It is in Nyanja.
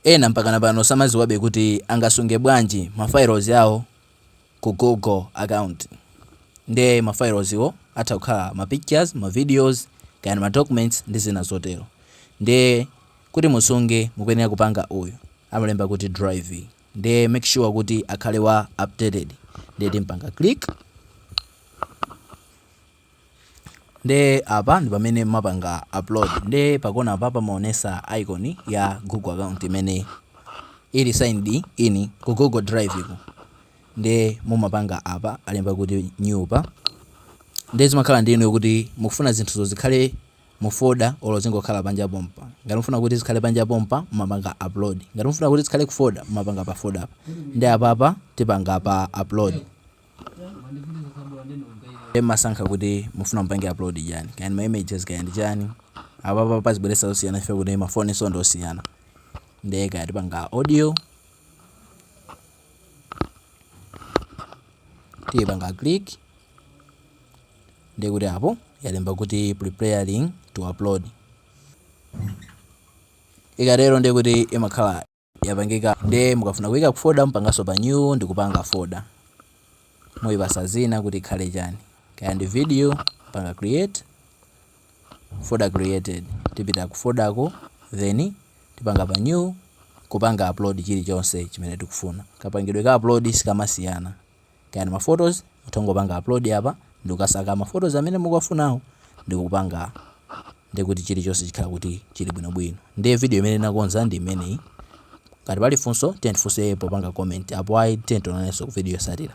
Ena mpakana pano samadziwabe kuti angasunge bwanji ma files awo ku Google account. Nde ma files awo atha kukhala ma pictures, ma videos, kaya ndi ma documents ndi zina zotero. Nde kuti musunge mukuyenera kupanga uyu amalemba kuti drive. Nde make sure kuti akhale wa updated. Nde timupanga click. Nde apa ndipamene mmapanga upload nde pakona apa pamaonesa icon ya google account imene ili signed in ku google drive ku nde mumapanga apa alemba kuti new pa nde zimakhala ndi inuyo kuti mukufuna zinthuzo zikhale mu folder olo zingokhala panja pompa ngati mufuna kuti zikhale panja pompa mumapanga upload ngati mufuna kuti zikhale ku folder mumapanga pa folder pa nde apapa tipanga pa upload mmasankha kuti mufuna mupange upload chani kaya ndi ma images kaya ndi chani apapa pazibweretsa zosiyana chifukwa kuti mafoni so ndi osiyana ndiye kaya tipanga audio tipanga click ndiye kuti apo yalemba kuti preparing to upload ikatero ndiye kuti imakhala yapangika nde mukafuna kuika ku folder mupanganso pa new ndikupanga folder muipatsa dzina kuti ikhale chani kaya ndi video panga create folder created tipita ku folder ko then tipanga pa new kupanga upload chilichonse chimene tikufuna kapangidwe ka upload sikamasiyana Kaya ndi ma photos mutha kungopanga upload apa ndikukasaka ma photos amene mukuwafunawo ndikupanga ndekuti chilichonse chikhala kuti chili bwino bwino. Ndiye video imene ndinakonza ndi imeneyi. Ngati pali funso tiyeni tifunse popanga comment apo ayi tiyeni tionanenso ku video yotsatira.